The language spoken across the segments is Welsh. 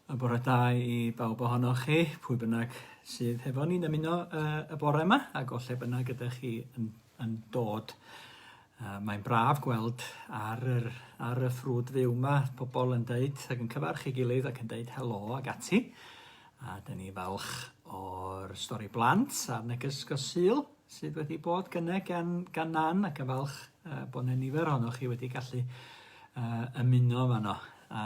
A bore da i bawb ohonoch chi, pwy bynnag sydd hefo ni'n ymuno uh, y bore yma, ac o lle bynnag ydych chi yn, yn dod. Uh, mae'n braf gweld ar, yr, ar y ffrwd fyw yma pobl yn dweud ac yn cyfarch ei gilydd ac yn dweud helo ac ati. A dyn ni falch o'r stori blant a'r neges gosil. sydd wedi bod gyne gan, gan Nan ac yn falch uh, bod yna nifer ohonoch chi wedi gallu uh, ymuno fan o. A,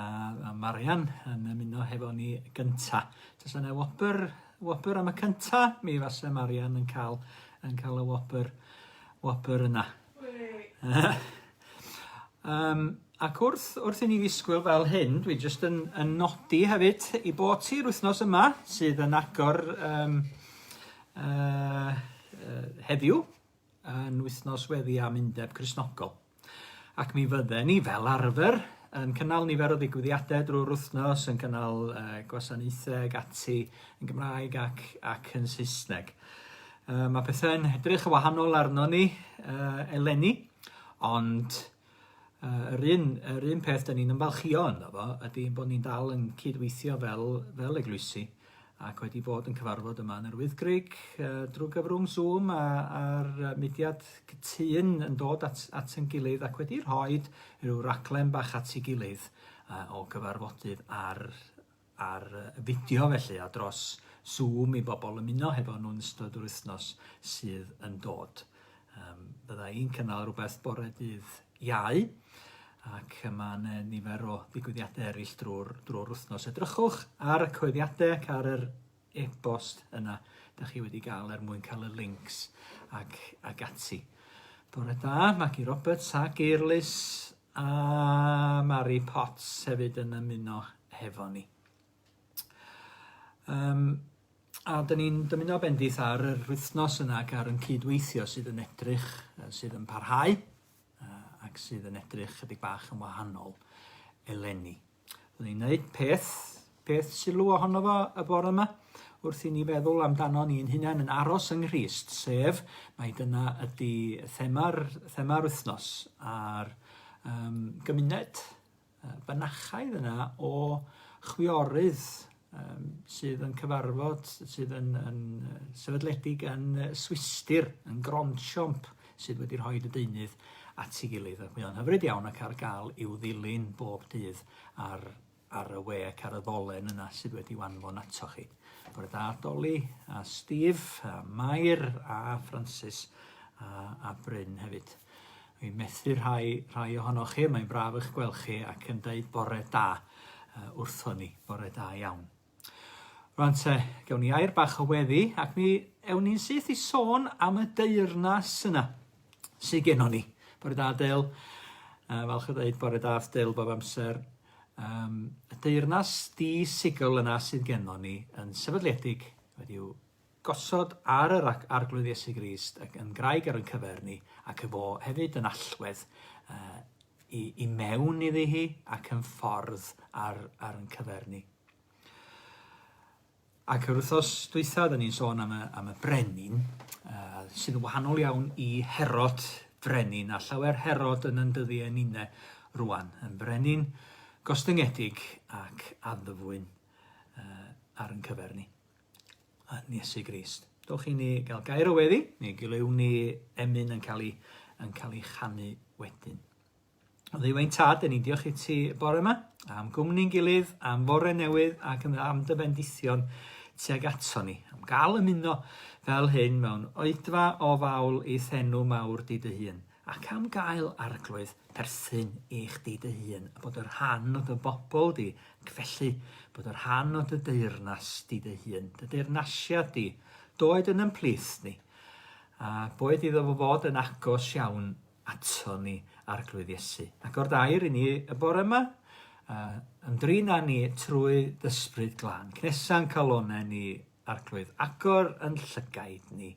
a Marian yn ymuno hefo ni gynta. Does yna wobr, wobr am y cynta, mi fase Marian yn cael, yn cael y wobr, wobr yna. um, Ac wrth wrth i ni ddisgwyl fel hyn, dwi jyst yn yn nodi hefyd 'i bod hi'r wythnos yma sydd yn agor yym yy yy heddiw yn wythnos weddi am Undeb Cristnogol. Ac mi fydden ni fel arfer yn cynnal nifer o ddigwyddiade drwy'r wythnos, yn cynnal yy gwasanaethe ag ati yn Gymraeg ac ac yn Saesneg. Yy ma' pethe'n edrych yn wahanol arnon ni yy eleni ond Yy yr un yr un peth 'dan ni'n ymfalchïo ynddo fo ydi bod ni'n dal yn cydweithio fel fel eglwysi ac wedi bod yn cyfarfod yma yn yr Wyddgrug yy drw gyfrwng Zoom a a'r yy mudiad cytun yn dod at at 'yn gilydd ac wedi rhoid rhyw raglen bach at 'i gilydd yy o gyfarfodydd ar ar fideo felly a dros Zoom i bobl ymuno hefo nhw'n ystod yr wythnos sydd yn dod. Um, bydda i'n cynnal rhywbeth bore dydd iau ac yma yn nifer o ddigwyddiadau eraill drwy'r drwy wythnos. Edrychwch ar y coeddiadau ac ar yr e-bost yna da chi wedi gael er mwyn cael y links ac, ac ati. Bore da, Maggie Roberts ac Eirlys A Mari Potts hefyd yn ymuno hefo ni. Um, a dyn ni'n dymuno bendith ar yr wythnos yna ac ar yn cydweithio sydd yn edrych, sydd yn parhau ac sydd yn edrych chydig bach yn wahanol eleni. Rwy'n i'n gwneud peth, peth sylw ohono fo y bore yma, wrth i ni feddwl amdano ni'n hunain yn aros yng Nghrist, sef mae dyna ydy thema'r thema'r wythnos a'r um, gymuned fynachaidd yna o chwiorydd yym sydd yn cyfarfod, sydd yn yn yy sefydledig yn yy Swistir, yn Grondsiomp, sydd wedi rhoi y deunydd at ei gilydd. Ac mae o'n hyfryd iawn ac ar gael i'w ddilyn bob dydd ar, ar y we ac ar y ddolen yna sydd wedi wanfon ato chi. Bore da, Doli, a Steve, a Mair, a Francis, a, a Bryn hefyd. Dwi'n methu rhai, rhai ohonoch chi, mae'n braf eich gweld chi ac yn deud bore da uh, wrthon ni, bore da iawn. Rwan te, gawn ni air bach o weddi ac mi ewn ni'n syth i sôn am y deyrnas yna sydd gennon ni. Bore da, Del. Uh, falch o ddeud bore da, Del, bob amser. Um, y deyrnas di-sigol yna sydd gennon ni yn sefydliedig wedi'w Gosod ar yr Arglwydd Iesu Grist ac yn graig ar yn cyfer ni ac y fo hefyd yn allwedd uh, i, i mewn iddi hi ac yn ffordd ar, ar yn cyfer ni. Ac yr wythnos dwytha, da ni'n sôn am y, am y brenin, uh, sydd yn wahanol iawn i Herod frenin, a llawer Herod yn yndyddi yn une rwan, yn brenin gostyngedig ac addyfwyn uh, ar yn cyfer ni. yn Iesu Grist. Dowch i ni gael gair o weddi, neu gilyw ni emyn yn cael ei, yn cael ei chanu wedyn. O ddiwain tad, yn ni'n diolch i ti bore yma, am gwmni'n gilydd, am fore newydd ac am dy bendithion tuag ato ni, am gael ymuno fel hyn mewn oedfa o fawl i thenw mawr di dy hun. ac am gael arglwydd perthyn i chdi dy hun, a bod yn rhan o dy bobl di, ac felly, bod yn rhan o dy deyrnas di dy hun, dy deyrnasiad di, d'oed yn yn plith ni, a boed iddo fo fod yn agos iawn ato ni, Arglwydd Iesu. Agor dy air i ni y bore yma, a ymdrin â ni trwy dy Ysbryd Glân. Cnesa'n calonau ni, Arglwydd, agor yn llygaid ni,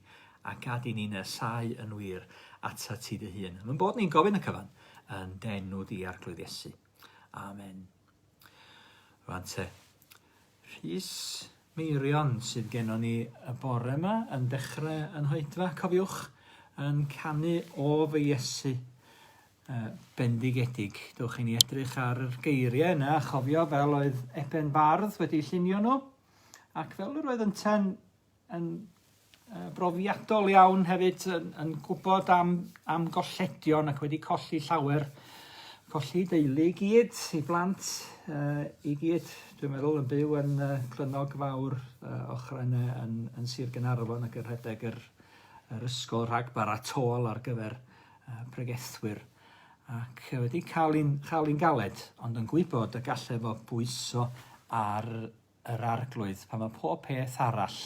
a gad i ni nesáu yn wir atat ti dy hun. Mae'n bod ni'n gofyn y cyfan yn denw di, Arglwydd Iesu. Amen. Rwan te, Rhys Meirion sydd gennon ni y bore yma yn dechrau yn hoedfa, cofiwch, yn canu o fy Iesu uh, bendigedig. Dewch i ni edrych ar yr geiriau yna a chofio fel oedd Eben Bardd wedi llunio nhw. Ac fel yr oedd ynte'n yn uh, brofiadol iawn hefyd yn, yn gwybod am, am golledion ac wedi colli llawer, colli deulu i gyd, i blant, uh, i gyd, dwi'n meddwl, yn byw yn uh, Clynog Fawr uh, ochrau yn, yn Sir Gynarfon ac yn rhedeg yr, yr ysgol rhag baratol ar gyfer uh, pregethwyr. ac wedi cael un chael un galed, ond yn gwybod y gallai fo bwyso ar yr arglwydd pan mae pob peth arall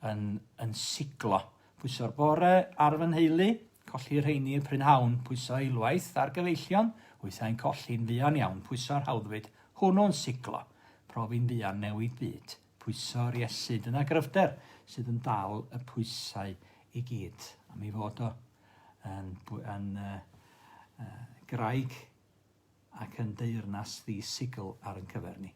yn, yn siglo. Pwyso'r bore ar fy nheulu, colli rheini y prynhawn, pwyso eilwaith ar gyfeillion, wythau'n colli'n fuan iawn, pwyso'r hawddfyd hwnnw'n siglo, profi'n fuan newid byd. Pwyso'r Iesu. Dyna gryfder sydd yn dal y pwysau i gyd. A mi fod o yn, yn uh, uh, graig ac yn deyrnas ddisigl ar yn cyfer ni.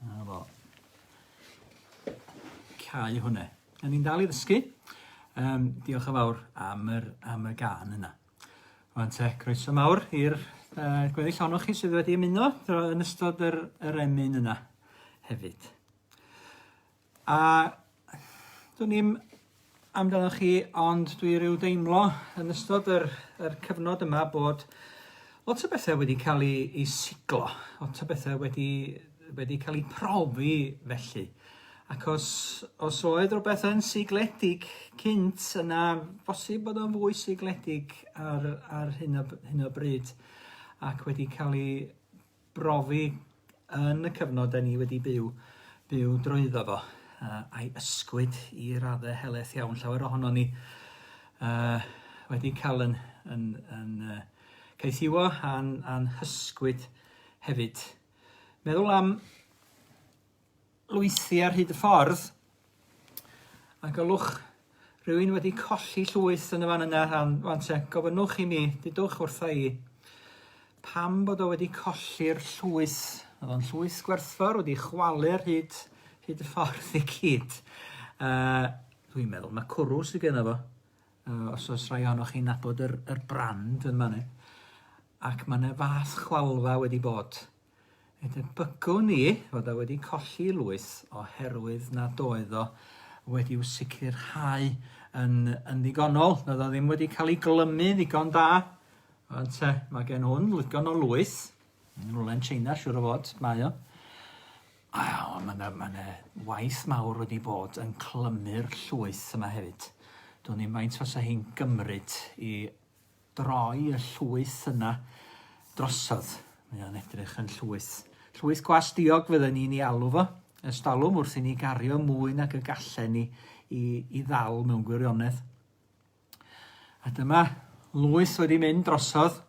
'Na fo. Cau hwnne. A ni'n dal i ddysgu. Um, diolch yn fawr am yr, am y gan yna. Rwan te, croeso mawr i'r uh, gweddill ohonoch chi sydd wedi ymuno yn ystod yr, yr emyn yna hefyd. A dwn i'm amdanoch chi, ond dwi rhyw deimlo yn ystod yr, yr cyfnod yma bod lot o bethau wedi cael ei, ei siglo, lot o bethau wedi, wedi cael ei profi felly. Ac os, os oedd rhywbeth yn sigledig cynt, yna bosib bod o'n fwy sigledig ar, ar hyn, o, hyn o bryd ac wedi cael ei brofi yn y cyfnod da ni wedi byw, byw drwyddo fo, uh, a'i ysgwyd i radde heleth iawn. Llawer ohono ni uh, wedi cael yn, yn, yn uh, caethiwo a'n, an hysgwyd hefyd. Meddwl am lwythi ar hyd y ffordd a gwelwch rhywun wedi colli llwyth yn y fan yna rhan wan te, gofynnwch i mi, dudwch wrtha i, pam bod o wedi colli'r llwyth. Oedd o'n llwyth gwerthfawr wedi chwalu ar hyd, hyd y ffordd i gyd. Uh, Dwi'n meddwl mae cwrw sydd gen fo, uh, os oes rhai ohonoch chi'n nabod yr, yr brand yn manne. Ac mae yna fath chwalfa wedi bod Fe debygwn i fod o wedi colli lwyth oherwydd nad oedd o wedi'w sicrhau yn, yn ddigonol, nad o ddim wedi cael ei glymu ddigon da. Ond te, mae gen hwn ddigon o lwyth, yn rhywle'n China, siwr o fod, mae o. A o, mae yna ma waith mawr wedi bod yn clymu'r llwyth yma hefyd. Dwi'n ddim faint os o hi'n gymryd i droi y llwyth yna drosodd. Mae o'n edrych yn llwyth. Llwyth gwas diog fydden ni'n ei alw fo. Ystalwm wrth i ni gario mwy nag y gallen ni i, i ddal mewn gwirionedd. A dyma lwyth wedi mynd drosodd.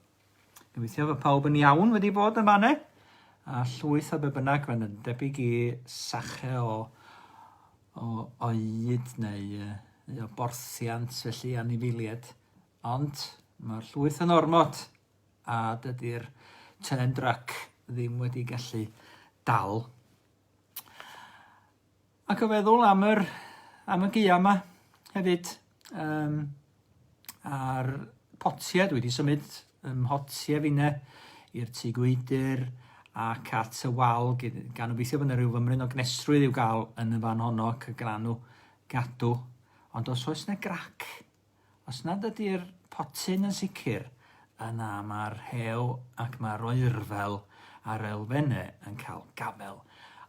Gobeithio fod pawb yn iawn wedi bod yma ne? A llwyth o be bynnag, mae'n debyg i sache o, o oed neu, neu o borthiant, felly anifilied. Ond mae'r llwyth yn ormod a dydy'r Tenen Drac ddim wedi gallu dal. Ac o feddwl am, yr, am y gia yma hefyd, um, a'r potiau, dwi wedi symud ym mhotiau finne i'r tu gwydr ac at y wal, gan obeithio bod yna rhyw fymryn o gnesrwydd i'w gael yn y fan honno ac y glanw gadw. Ond os oes yna grac Os nad ydy'r potyn yn sicr, yna mae'r rhew ac mae'r oerfel a'r elfennau yn cael gafael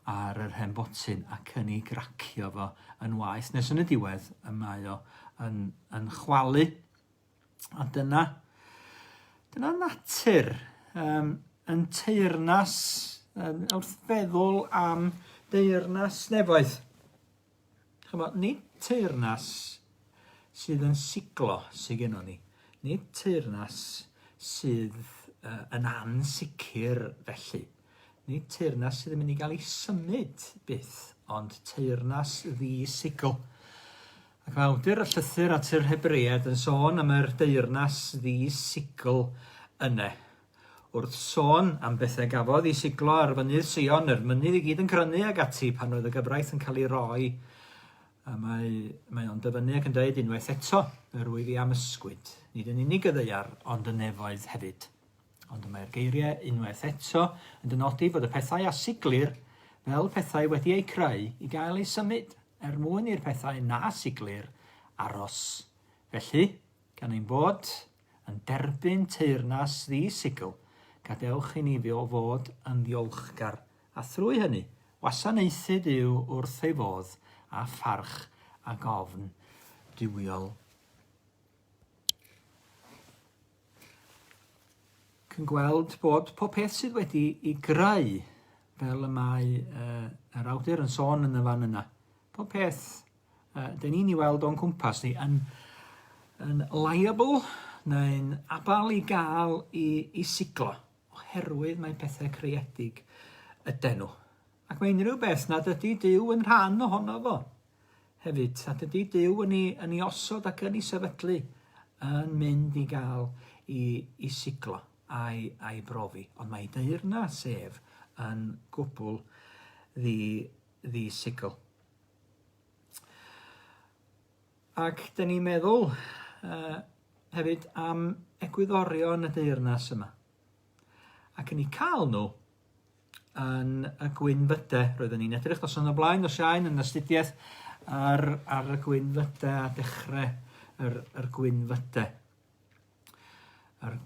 ar yr hen botyn ac yn ei gracio fo yn waeth, nes yn y diwedd y mae o yn, yn chwalu. A dyna, dyna natur. Um, yn teyrnas, yn, wrth feddwl am deyrnas nefoedd, Ch'mo', nid teyrnas sydd yn siglo sy gynnon ni, nid teyrnas sydd yy yn ansicr felly, nid teyrnas sydd yn mynd i ga'l 'i symud byth, ond teyrnas ddi-sigl. Ac mae awdur y llythyr at yr Hebreaid yn sôn am yr deyrnas ddi-sigl yne. Wrth sôn am bethau gafodd i siglo ar Fynydd Sion, yr mynydd i gyd yn crynu ag ati pan oedd y gyfraith yn cael ei roi, a mae, mae o'n dyfynnu ac yn dweud unwaith eto, yr wyf i am ysgwyd, nid yn unig y ddaear, ond y nefoedd hefyd. Ond y mae'r geiriau unwaith eto yn dynodi fod y pethau a siglir fel pethau wedi eu creu i gael eu symud, er mwyn i'r pethau na siglir aros. Felly, gan ein bod Yn derbyn teyrnas ddi-sigl, gadewch i ni fio fod yn ddiolchgar, a thrwy hynny, wasanaethu Duw wrth ei fodd â pharch ac ofn duwiol. Cyn gweld bod pob peth sydd wedi i greu, fel y mae uh, yr awdur yn sôn yn y fan yna, pob peth uh, dyn ni'n ei weld o'n cwmpas ni, yn, yn liable neu'n abal i gael i, i siglo, oherwydd mae pethau creedig yden nhw. Ac mae unrhyw beth nad ydy Dyw yn rhan ohono fo hefyd, nad ydy Dyw yn ei, yn ei osod ac yn ei sefydlu yn mynd i gael i, i siglo a'i, ai brofi. Ond mae ei deyrna sef yn gwbl ddi, ddi sicl. Ac dyn ni'n meddwl uh, hefyd am egwyddorion y deyrnas yma. Ac yn ei cael nhw yn y gwynfydau. Roeddwn ni'n edrych nos yn y blaen, nos iawn yn astudiaeth ar, ar y gwynfydau a dechrau yr, yr gwynfydau. Yr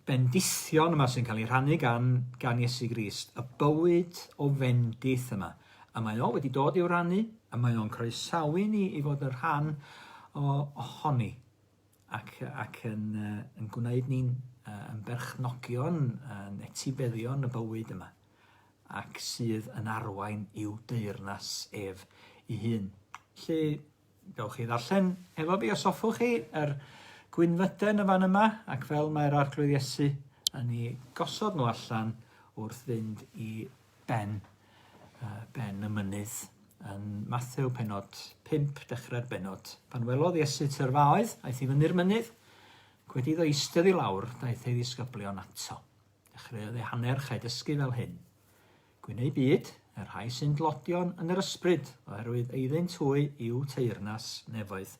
bendithion yma sy'n cael ei rhannu gan, gan Iesu Grist, y bywyd o fendith yma. A mae o wedi dod i'w rannu, a mae o'n croesawu ni i fod yn rhan o, ohoni, ac, ac yn, uh, yn gwneud ni'n uh, yn berchnogion, yn etifeddion y bywyd yma, ac sydd yn arwain i'w deyrnas ef i hun. Lle Gewch chi ddarllen efo fi os hoffwch chi yr gwynfyden yn fan yma ac fel mae'r Arglwydd Iesu yn ei gosod nhw allan wrth fynd i ben, uh, ben y mynydd yn Mathew penod 5 dechrau'r benod. Pan welodd Iesu tyrfaoedd, aeth i fyny'r mynydd, wedi iddo eistedd i lawr, daeth ei ddisgyblion ato. Dechreuodd ei hanner chael dysgu fel hyn. Gwyn eu byd, y rhai sy'n dlodion yn yr ysbryd, oherwydd eiddynt hwy yw teyrnas nefoedd.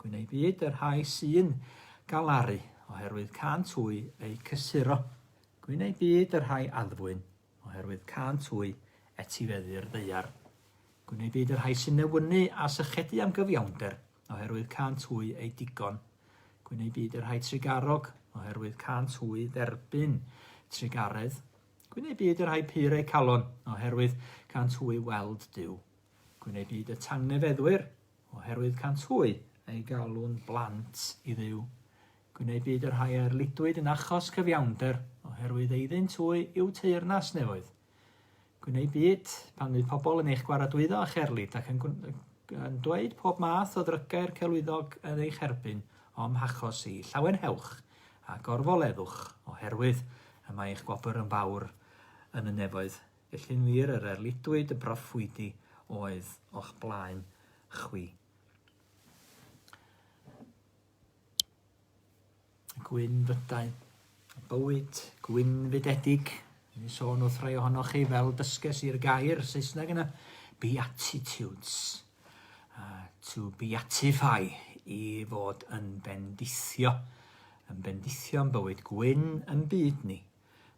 Gwyn eu byd, y rhai sy'n galaru, oherwydd cant hwy eu cysuro. Gwyn eu byd, y rhai addfwyn, oherwydd cant hwy etifeddu'r ddeiar. Gwyn eu byd, y rhai sy'n newynu a sychedu am gyfiawnder, oherwydd cant hwy eu digon. Gwyn eu byd, y rhai trigarog, oherwydd cant hwy dderbyn trigaredd. Gwyn ei byd y rhai pur eu calon, oherwydd cant hwy weld Duw. Gwyn ei byd y tangnefeddwyr, oherwydd cant hwy ei galwn blant i ddiw. Gwyn ei byd y rhai a'r lidwyd yn achos cyfiawnder, oherwydd eiddynt hwy yw teyrnas nefoedd. Gwyn ei byd pan fydd pobl yn eich gwaradwyddo a cherlid ac yn, yn dweud pob math o ddrygair celwyddog yn eich herbyn, o'm hachos i, llawenhewch, a gorfoleddwch, oherwydd y mae eich gwobr yn fawr yn y nefoedd, felly'n wir yr erlidwyd y broffwydi oedd o'ch blaen chwi. Gwyn fydau, bywyd gwynfydedig, ni'n sôn wrth rai ohonoch chi fel dysges i'r gair Saesneg yna, beatitudes. to beatify, i fod yn bendithio, yn bendithio yn bywyd gwyn yn byd ni,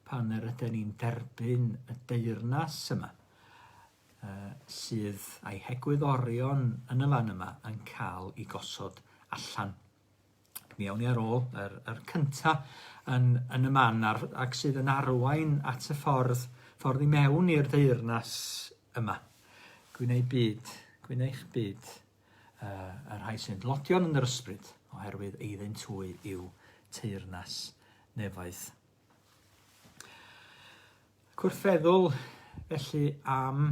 pan yr ydyn ni'n derbyn y deyrnas yma, uh, sydd a'i hegwyddorion yn y fan yma yn cael ei gosod allan. Mi awn ni ar ôl yr, yr cynta yn, yn y man ar, ac sydd yn arwain at y ffordd, ffordd i mewn i'r ddeyrnas yma. Gwneud byd, gwneud byd uh, y rhai sy'n dlodion yn yr ysbryd, oherwydd eiddyn twy yw teyrnas nefaeth Gwrthfeddwl felly am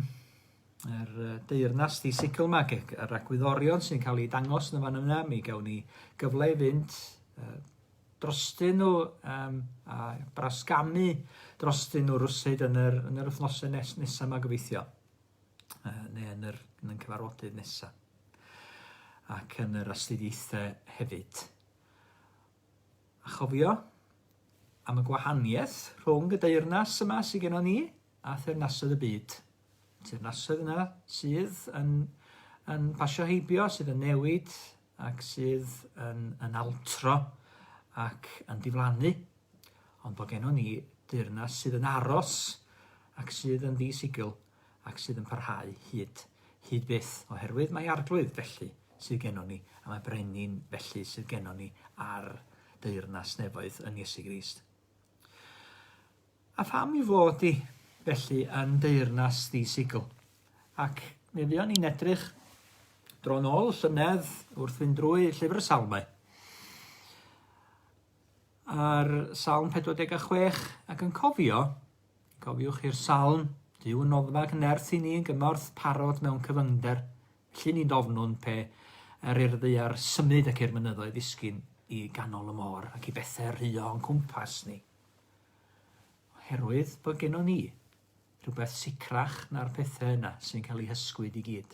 yr deyrnas di sicl yma, yr agwyddorion sy'n cael ei dangos yn y fan yna, mi gawn ni gyfle i fynd uh, drostyn nhw um, a brasgamu drostyn nhw rwsyd yn yr, yn yr wythnosau nes, nesaf yma gobeithio, uh, neu yn, yr, yn y cyfarfodydd nesaf, ac yn yr astudiaethau hefyd. A chofio am y gwahaniaeth rhwng y deyrnas yma sydd gennon ni a theyrnasoedd y byd. Teyrnasoedd yna sydd yn, yn pasio heibio, sydd yn newid ac sydd yn, yn altro ac yn diflannu. Ond bod gennon ni deyrnas sydd yn aros ac sydd yn ddisigl. ac sydd yn parhau hyd, hyd byth, oherwydd mae arglwydd felly sydd gennon ni, a mae brenin felly sydd gennon ni ar deyrnas nefoedd yn Iesu Grist. A pham i fod di, felly, yn deyrnas di sigl? Ac mi fuon ni'n edrych dron ôl llynedd wrth fynd drwy llyfr y salmau. A'r salm 46 ac yn cofio Cofiwch i'r Salm, Duw yn noddfa ac yn nerth i ni yn gymorth parod mewn cyfyngder, felly ni dofnwn pe er i'r ddaear symud ac i'r mynyddoedd ddisgyn i ganol y môr ac i bethau rhuo o'n cwmpas ni. Oherwydd bod gennon ni rhywbeth sicrach na'r pethau yna sy'n cael eu hysgwyd i gyd.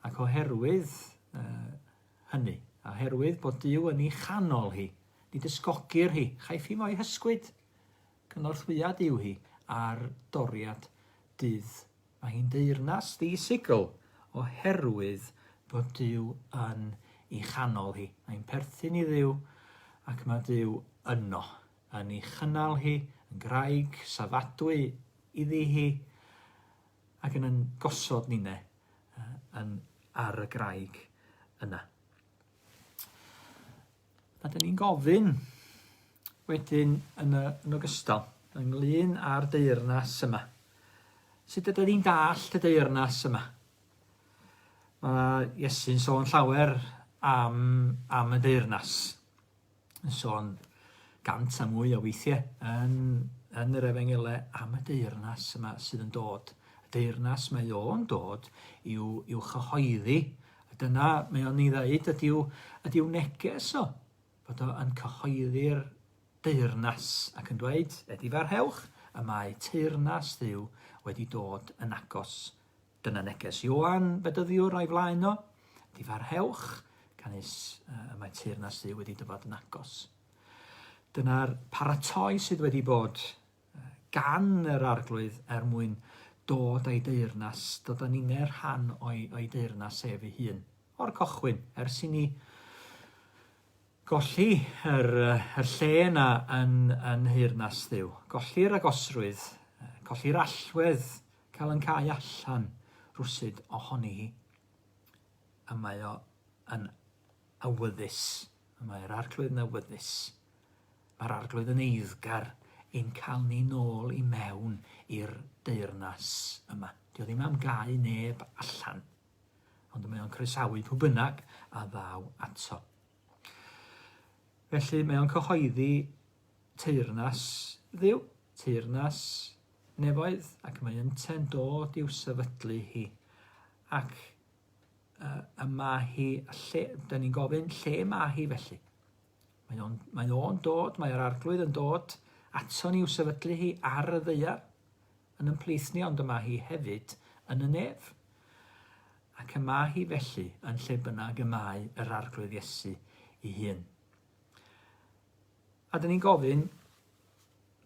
Ac oherwydd uh, hynny, oherwydd bod Dyw yn ei chanol hi, ni dysgogir hi, chaiff hi mo'i hysgwyd. Cynorthwyyad yw hi ar doriad dydd. Mae hi'n deyrnas ddi-sigl oherwydd bod Duw yn ei chanol hi. Mae'n perthyn i Dduw ac mae Duw yno, yn ei chynnal hi, yn graig safadwy iddi hi ac yn yn gosod ninne yn ar y graig yna. A dyn ni'n gofyn wedyn yn, y, yn ogystal ynglyn â'r deyrnas yma. Sut ydyn ni'n dallt y deyrnas yma? Mae Iesu'n sôn llawer am, am y deyrnas. Yn sôn gant a mwy o weithiau yn, yn yr efengelau am y deyrnas yma sydd yn dod. Y deyrnas mae o'n dod i'w, i'w chyhoeddi A dyna, mae o'n ei ddeud, ydyw, ydyw neges o, fod o yn cyhoeddi'r deyrnas, ac yn dweud, edifarhewch, y mae teyrnas Dduw wedi dod yn agos. Dyna neges Ioan, fedyddiwr a'i flaen o, edifarhewch, canys y mae teyrnas Dduw wedi dyfod yn agos. Dyna'r paratoi sydd wedi bod gan yr Arglwydd er mwyn dod a'i deyrnas, dod a ninne rhan o'i, o'i deyrnas ef ei hun. O'r cochwyn, ers i ni golli yr, yr lle yna yn, yn nheyrnas Dduw, golli'r agosrwydd, colli'r allwedd cael yn cael allan rwsyd ohoni hi, y mae o yn awyddus, y mae'r Arglwydd yn awyddus. Mae'r Arglwydd yn eiddgar i'n cael ni nôl i mewn i'r deyrnas yma. Dio ddim am gau neb allan, ond mae o'n croesawu pwy bynnag a ddaw ato. Felly mae o'n cyhoeddi teyrnas ddiw, teyrnas nefoedd, ac mae ynte'n dod i'w sefydlu hi. Ac uh, y mae hi, lle, da ni'n gofyn, lle mae hi felly? Mae o'n, mae o'n dod, mae'r arglwydd yn dod ato ni i'w sefydlu hi ar y ddeia yn ymplith ni, ond y mae hi hefyd yn y nef. Ac y mae hi felly yn lle bynnag y mae yr arglwydd Iesu i hun. A da ni'n gofyn,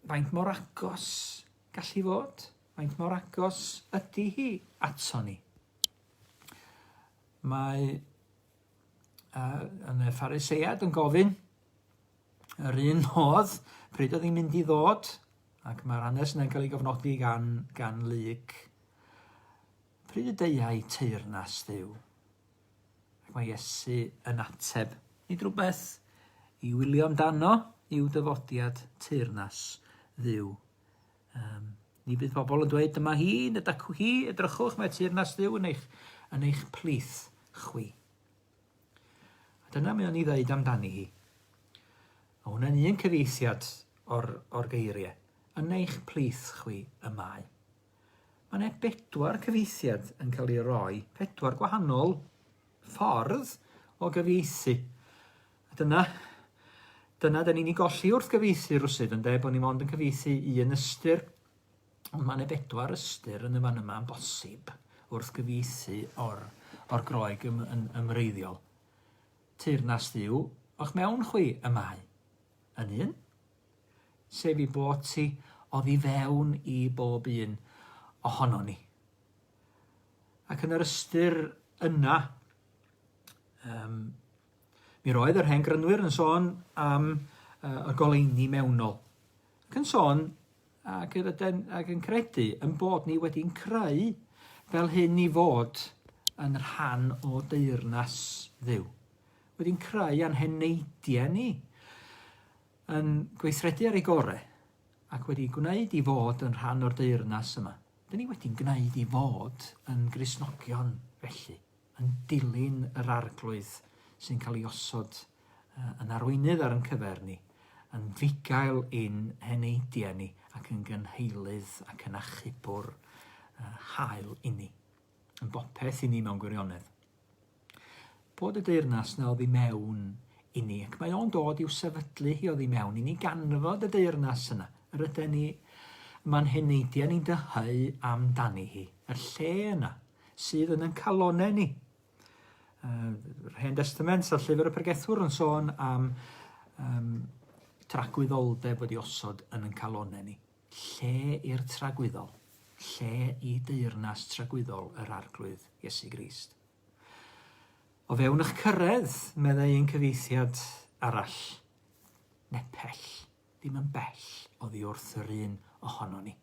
faint mor agos gallu fod? Faint mor agos ydy hi ato ni? Mae uh, yn y ffariseiad yn gofyn yr un modd pryd oedd hi'n mynd i ddod, ac mae'r hanes yna'n cael ei gofnodi gan, gan lyg. Pryd y deiau teirnas ddew? Ac mae Iesu yn ateb. Nid rhywbeth i wylio amdano yw dyfodiad teirnas ddew. Um, ni bydd pobl yn dweud, dyma hi, y dacw hi, edrychwch, mae teyrnas ddiw yn eich, yn eich plith chwi. A dyna mi o'n i ddeud amdani hi. A hwnna'n un cyfeithiad o'r, or geiriau. Yn eich plith chwi y mae. Mae yna bedwar cyfeithiad yn cael ei roi, pedwar gwahanol ffordd o gyfeithi. A dyna, dyna da ni'n ei golli wrth gyfeithi rwsyd, yn de, bod ni mond yn cyfeithi un ystyr, ond mae yna bedwar ystyr yn y fan yma yn bosib wrth gyfeithi o'r, or groeg ym, yn, ymreiddiol. Teyrnas ddiw o'ch mewn chwi y mae yn un, sef i bod ti oddi fewn i bob un ohono ni. Ac yn yr ystyr yna, um, Mi roedd yr hen grynwyr yn sôn am uh, y goleini mewnol, ac yn sôn ac, ydyn, ac yn credu yn bod ni wedi'n creu fel hyn i fod yn rhan o deyrnas ddiw. Wedi'n creu a'n heneidiau ni, yn gweithredu ar ei gorau, ac wedi gwneud i fod yn rhan o'r deyrnas yma. Dyn ni wedi'n gwneud i fod yn grisnogion felly. yn dilyn yr Arglwydd sy'n cael ei osod yn arweinydd ar yn cyfer ni, yn fugail i'n heneidiau ni ac yn gynheilydd ac yn achubwr hael inni, yn bopeth i ni mewn gwirionedd. Bod y deyrnas na oddi mewn i ni, ac mae o'n dod i'w sefydlu hi oddi mewn i ni ganfod y deyrnas yna, yr yden ni, mae'n heneidiau ni'n dyheu amdani hi, y lle yna, sydd yn ein calonau ni. Yr Hen Destament a Llyfr y Pregethwr yn sôn am um, tragwyddoldeb wedi osod yn yn calonau ni. Lle i'r tragwyddol? Lle i deyrnas tragwyddol yr arglwydd Iesu Grist? O fewn eich cyrraedd, meddai ein cyfeithiad arall, nepell, ddim yn bell oddi wrth yr un ohono ni.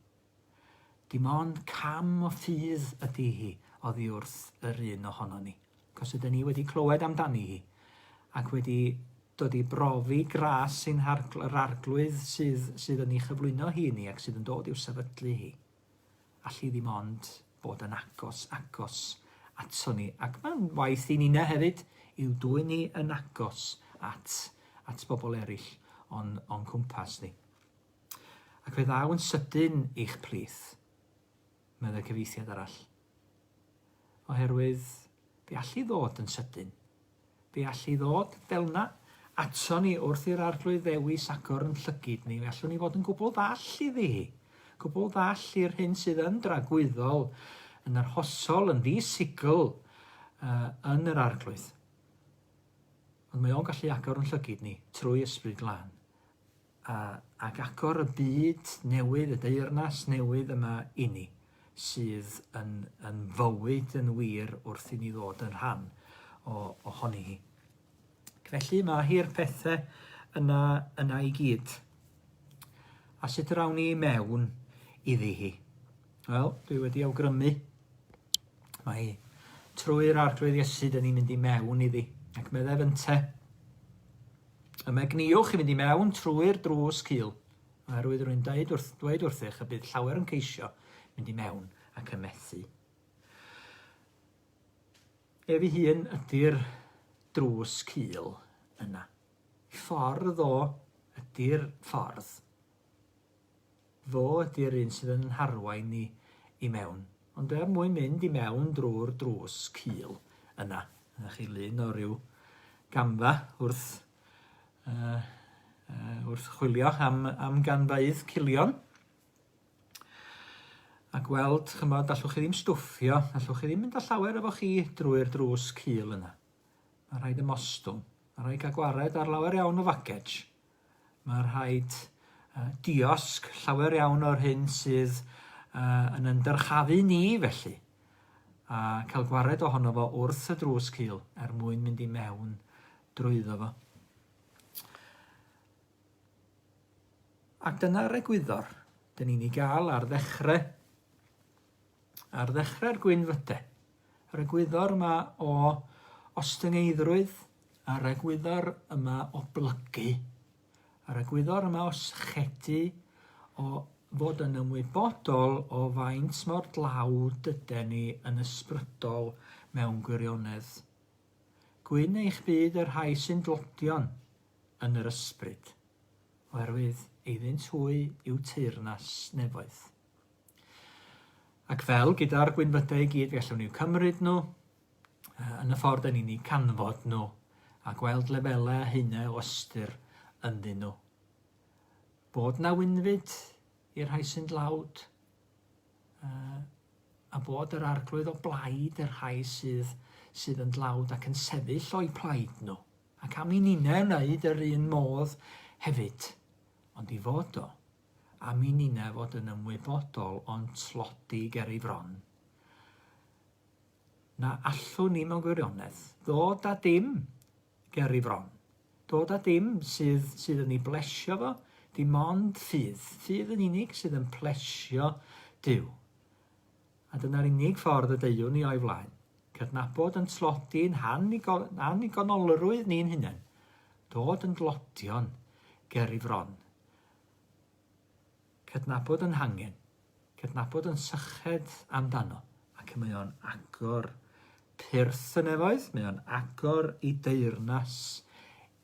Dim ond cam o ffydd ydi hi oddi wrth yr un ohonon ni, cos ydyn ni wedi clywed amdani hi, ac wedi dod i brofi gras ein hargl- yr arglwydd sydd, sydd yn ei chyflwyno hi i ni ac sydd yn dod i'w sefydlu hi. Alli ddim ond bod yn agos, agos ato ni. Ac mae'n waith i Nina hefyd i'w dwy ni yn agos at, at bobl eraill o'n, o'n cwmpas ni. Ac fe ddaw yn sydyn i'ch plith, meddai cyfieithiad arall. Oherwydd, fe all i ddod yn sydyn. Fe all i ddod fel yna ato ni wrth i'r arglwydd ddewis agor yn llygid ni. Fe allwn ni fod yn gwbl ddall iddi hi. Gwbl ddall i'r hyn sydd yn dragwyddol, yn arhosol, yn ddisigl uh, yn yr arglwydd. Ond mae o'n gallu agor yn llygid ni trwy ysbryd glân. a ac agor y byd newydd, y deyrnas newydd yma inni, sydd yn, yn fywyd yn wir wrth i ni ddod yn rhan o, ohoni hi. Felly mae hi'r pethau yna, yna i gyd. A sut yr awn ni mewn iddi hi? Wel, dwi wedi awgrymu. Mae trwy'r arglwydd Iesu, dyn ni'n mynd i mewn iddi. Ac meddai fynte, Y megniwch i fynd i mewn trwy'r drws cul, oherwydd rwy'n dweud, wrth, dweud wrthych y bydd llawer yn ceisio mynd i mewn ac yn methu. Ef ei hun ydy'r drws cul yna. Ffordd o ydy'r ffordd Fo ydy'r un sydd yn 'n harwain ni i mewn. Ond er mwyn mynd i mewn drwy'r drws cul yna, dyna chi lun o ryw gamfa wrth uh, uh, wrth chwilio am, am ganfaidd cilion a gweld, chymod, allwch chi ddim stwffio, allwch chi ddim mynd â llawer efo chi drwy'r drws cul yna. Mae rhaid ymostwng, mae rhaid cael gwared ar lawer iawn o fagej. Mae rhaid diosg llawer iawn o'r hyn sydd yn yn dyrchafu ni felly, a cael gwared ohono fo wrth y drws cul er mwyn mynd i mewn drwyddo fo. Ac dyna'r egwyddor dyn ni'n ei gael ar ddechrau Ar ddechrau'r gwynfyde, yr egwyddor yma o ostyngeiddrwydd, yr egwyddor yma o blygu, yr egwyddor yma o sychedu, o fod yn ymwybodol o faint mor dlawd dyden ni yn ysbrydol mewn gwirionedd. Gwyn eich byd y rhai sy'n dlodion yn yr ysbryd, oherwydd eiddynt hwy yw teyrnas nefoedd. Ac fel gyda'r gwynfydau i gyd, fe allwn ni cymryd nhw yn y ffordd yn ni'n eu canfod nhw a gweld lefelau a hynau o ystyr ynddyn nhw. Bod na wynfyd i'r rhai sy'n dlawd, a bod yr arglwydd o blaid yr rhai sydd, sydd yn dlawd ac yn sefyll o'u plaid nhw. Ac am i ninnau wneud yr un modd hefyd, ond i fod o am i Nina fod yn ymwybodol o'n tlodi ger ei fron, na allwn ni mewn gwirionedd ddod â dim ger ei fron, dod â dim sydd, sydd yn ei blesio fo, dim ond ffydd, ffydd yn unig sydd yn plesio Dyw. A dyna'r unig ffordd y deuwn ni o'i flaen, cydnabod yn tlodi'n annigonolrwydd ni'n hunain, dod yn dlodion ger ei fron, Cydnabod yn hangen, cydnabod yn syched amdano, ac mae o'n agor pyrth y nefoedd, mae o'n agor i deyrnas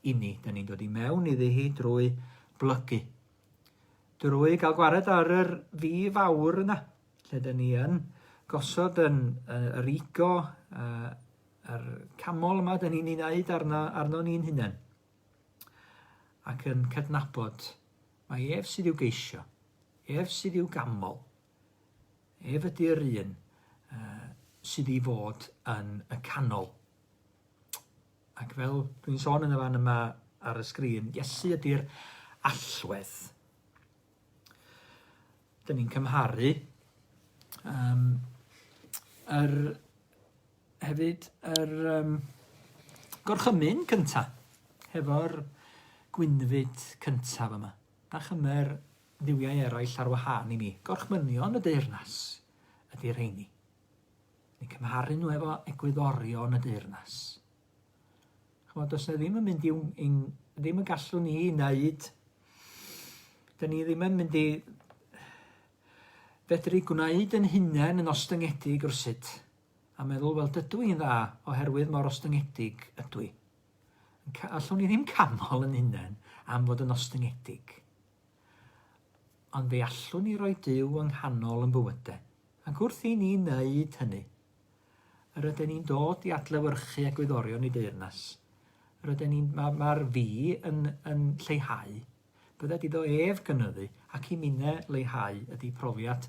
i ni. Da ni'n dod i mewn iddi hi drwy blygu. Drwy gael gwared ar yr fi fawr yna, lle da ni yn gosod yn, uh, yr ego, uh, yr camol yma da ni'n ei wneud arno, arno ni'n hunain. ac yn cydnabod mai ef sydd i'w geisio, ef sydd i'w ganmol, ef ydy'r un uh, sydd i fod yn y canol. Ac fel dwi'n sôn yn y fan yma ar y sgrin, Iesu ydy'r allwedd. Dyn ni'n cymharu um, yr, hefyd yr um, gorchymyn cynta hefo'r gwynfyd cyntaf yma. A chymer ddiwiau eraill ar wahân i mi. Gorchmynion y deyrnas ydy'r rheini. Ni'n cymharu nhw efo egwyddorion y deyrnas. Chimod, does na ddim yn mynd i'w... in, ddim yn gallwn ni wneud. Dyn ni ddim yn mynd i fedru gwneud yn hunain yn ostyngedig rhywsut a meddwl, wel, dydw i'n dda oherwydd mor ostyngedig ydw i. Allwn ni ddim canol yn hunain am fod yn ostyngedig. Ond fe allwn ni roi Dyw yng nghanol yn bywydau. Ac wrth i ni wneud hynny, Ryden ni'n dod i adlewyrchu egwyddorion y deyrnas. Ryden ni'n... Mae'r ma fi yn, yn lleihau. Bydded iddo ef gynyddu, ac i minne leihau ydy profiad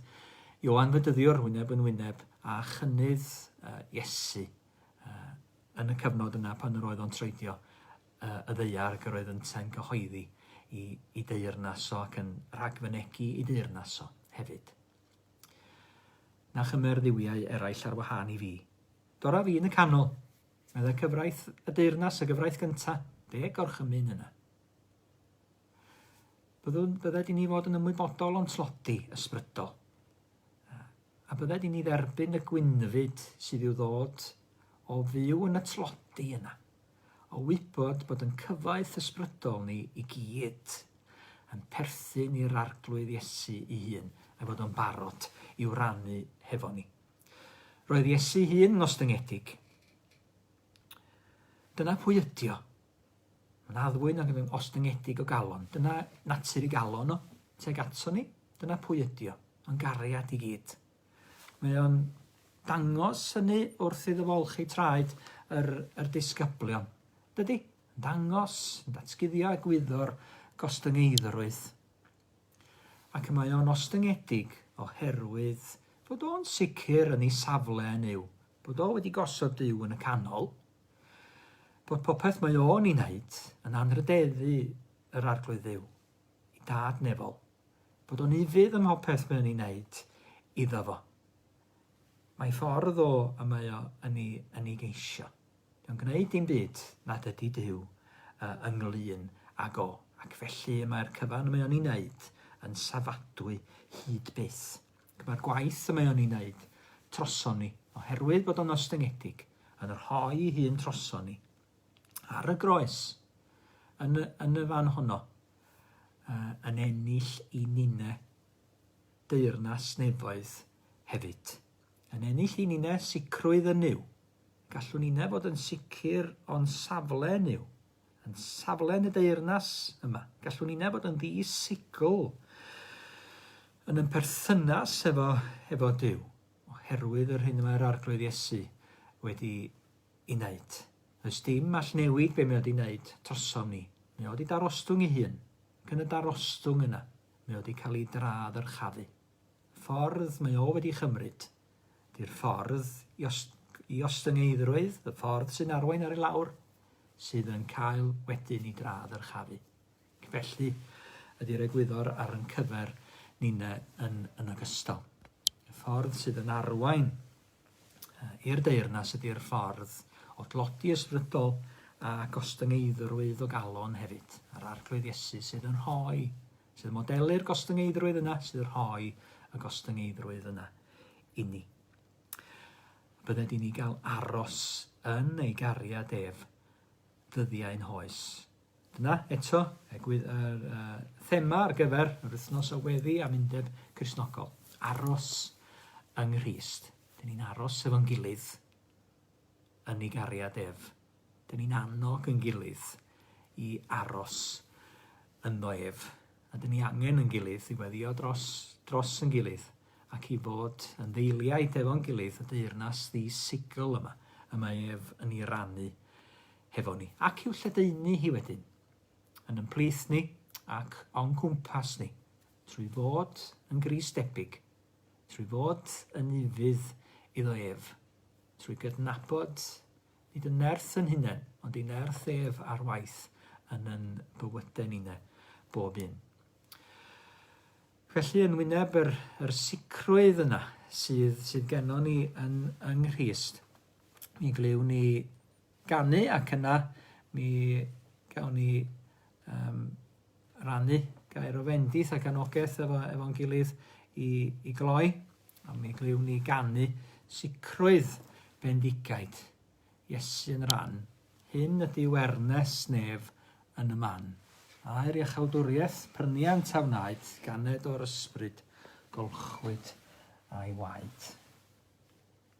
Ioan Fedyddiwr wyneb yn wyneb a chynnydd uh, Iesu uh, yn y cyfnod yna pan yr oedd o'n troedio uh, y ddeiar yr oedd ynte'n cyhoeddi i, i deyrnas o ac yn rhagfynegu i deyrnas o hefyd. na chymer dduwiau eraill ar wahân i fi. Dora fi yn y canol, meddai cyfraith y deyrnas, y gyfraith gynta, fe gorchymyn yna. Byddwn, bydded i ni fod yn ymwybodol o'n tlodi ysbrydol, a bydded i ni dderbyn y gwynfyd sydd i'w ddod o fyw yn y tlodi yna. o wybod bod yn cyfoeth ysbrydol ni i gyd yn perthyn i'r Arglwydd Iesu ei hun a'i fod o'n barod i'w rannu hefo ni. Roedd Iesu'i hun yn ostyngedig. Dyna pwy ydi o. Mae'n addfwyn ac yn ostyngedig o galon. Dyna natur i galon o, teg ato ni. Dyna pwy ydi o. Mae'n gariad i gyd. Mae o'n dangos hynny wrth iddo fo olchi traed yr, yr disgyblion. Dydy? Yn dangos, yn datguddio egwyddor gostyngeiddrwydd. Ac y mae o'n ostyngedig oherwydd bod o'n sicr yn ei safle yn yw, bod o wedi gosod Dyw yn y canol, bod popeth mae o'n ei wneud yn anrhydeddu yr Arglwydd Dduw. i dad Nefol, bod o'n ufudd ym mhopeth mae o'n ei wneud iddo fo. Mae ffordd o y mae o yn ei, yn ei geisio. Dio'n gwneud dim byd nad ydy Duw uh, ynglyn ag o, ac felly mae'r cyfan y mae o'n ei wneud yn safadwy hyd byth. Mae'r gwaith y mae o'n ei wneud troson ni, oherwydd bod o'n ostyngedig, yn rhoi hun troson ni, ar y groes yn y, yn y fan honno uh, yn ennill i Nine deyrnas nefoedd hefyd. Yn ennill i Nine sicrwydd yn yw. Gallwn Nine fod yn sicr o'n safle yn yw. Yn safle yn y deyrnas yma. Gallwn Nine fod yn ddi sicl yn yn perthynas efo, efo Dyw, oherwydd yr hyn mae'r arglwydd Iesu wedi i neud. Does dim all newid be mae o wedi neud drosom ni. Mae o wedi darostwng ei hun, ac yn y darostwng yna, mae o wedi cael ei dra-ddyrchafu. Y ffordd mae o wedi chymryd, di'r ffordd i, os, i ostyngeiddrwydd, y ffordd sy'n arwain ar ei lawr, sydd yn cael wedyn ei dra-ddyrchafu. Felly, ydy'r egwyddor ar yn cyfer ni'n yn, yn ogystal. Y ffordd sydd yn arwain i'r deyrnas ydy'r ffordd o dlodi ysbrydol a gostyngeiddrwydd o galon hefyd, yr Arglwydd Iesu sydd yn rhoi, sydd yn modelu'r gostyngeiddrwydd yna, sydd yn rhoi y gostyngeiddrwydd yna inni. Bydded i ni gael aros yn ei gariad ef ddyddiau'n hoes. Dyna eto egwydd yr thema ar gyfer yr wythnos o weddi am undeb Cristnogol, aros yng Nghrist. Dyn ni'n aros efo'n gilydd yn ei gariad ef. Dyn ni'n annog yn gilydd i aros ynddo ef. A dyn ni angen yn gilydd i weddio dros, dros yn gilydd ac i fod yn ddeiliaid efo'n gilydd y deyrnas ddi-sigl yma y mae ef yn ei rannu hefo ni, ac i'w lledaenu hi wedyn, yn yn plith ni ac o'n cwmpas ni, trwy fod yn Grist debyg, trwy fod yn ufudd iddo ef, trwy gydnabod nid yn nerth yn hunain, ond i nerth ef ar waith yn yn bywyde nine, bob un. Felly yn wyneb yr, yr sicrwydd yna sydd, sydd gennon ni yn yng Nghrist, mi glywn ni ganu ac yna mi gawn ni yym rannu gair o fendith ac anogaeth efo efo'n gilydd i i gloi a mi glywn ni ganu sicrwydd bendigaid Iesu yn ran hyn ydi wernes nef yn y man aer iachawdwriaeth pryniant a wnaed ganed o'r ysbryd golchwyd a'i waed.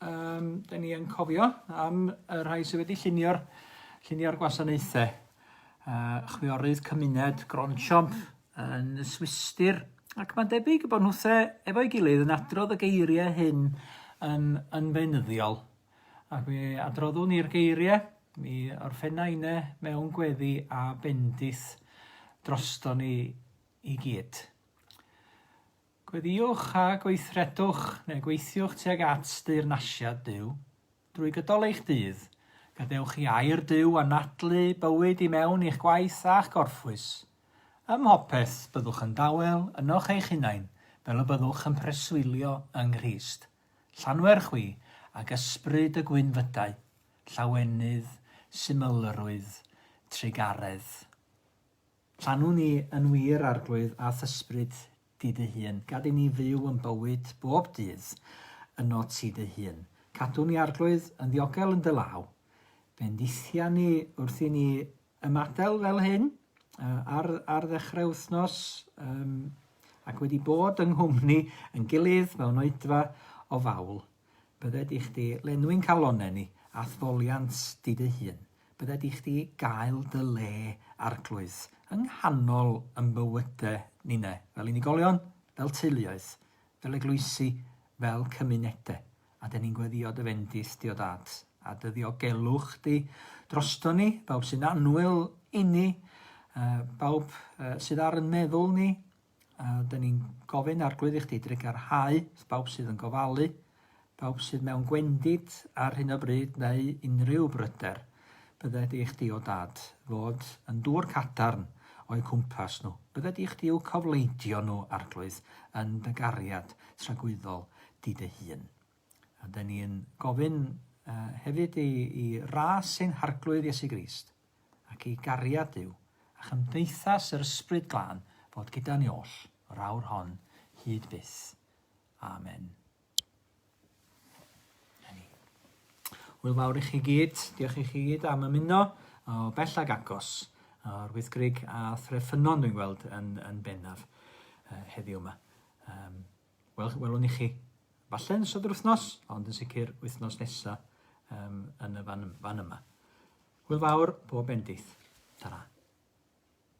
Yym, da ni yn cofio am y rhai sydd wedi llunio'r llunio'r gwasanaethau. Uh, chwiorydd cymuned Gronchomp yn y Swistir. Ac mae'n debyg bod nhw the efo'i gilydd yn adrodd y geiriau hyn yn, yn fenyddiol. Ac mi adroddwn ni'r geiriau, mi orffenna inne mewn gweddi a bendith drosto ni i gyd. Gweddïwch a gweithredwch neu gweithiwch tuag at deyrnasiad Duw. Drwy gydol eich dydd, gadewch i air Duw anadlu bywyd i mewn i'ch gwaith a'ch gorffwys. Ym mhopeth, byddwch yn dawel ynoch eich hunain fel y byddwch yn preswylio yng Nghrist. Llanwer chwi ag ysbryd y gwynfydau, llawenydd, symlrwydd, trugaredd. Llanw ni yn wir Arglwydd a th'Ysbryd di dy hun, gad i ni fyw yn bywyd bob dydd yno ti dy hun. Cadw ni Arglwydd yn ddiogel yn dy law, bendithia ni wrth i ni ymadel fel hyn ar ar ddechrau wythnos yym ac wedi bod yng nghwmni yn gilydd mewn oedfa o fawl Bydde di chdi lenwi'n calonnen ni, athfoliant di dy hun, bydde di chdi gael dy le, arglwydd, yng nghanol yn bywyde nine, fel unigolion, fel teuluoedd, fel eglwysi, fel cymunede, a de ni'n gweddio dy fendith di o dad, a dy ddiogelwch di drosto ni, bawb sy'n annwyl inni, uh, bawb uh, sydd ar yn meddwl ni, A dyn ni'n gofyn arglwydd i chdi drugarhau bawb sydd yn gofalu, bawb sydd mewn gwendid ar hyn o bryd neu unrhyw bryder bydde di chdi o dad fod yn dŵr cadarn o'u cwmpas nhw. Bydde di chdi i'w cofleidio nhw, arglwydd, yn dy gariad tragwyddol di dy hun. A dyn ni'n gofyn uh, hefyd i, i ras ein harglwydd Iesu Grist. ac i gariad Duw a chymdeithas yr Ysbryd Glân fod gyda ni oll yr awr hon hyd byth. Amen. Hwyl fawr i chi gyd, diolch i chi gyd am ymuno o bell ag agos o'r wythgrig a threfynon dwi'n gweld yn, yn bennaf uh, heddiw yma. Um, Wel, welwn i chi. Falle yn ystod yr wythnos, ond yn sicr wythnos nesa um, yn y fan, fan yma. Hwyl fawr, bob bendith. Ta-ra.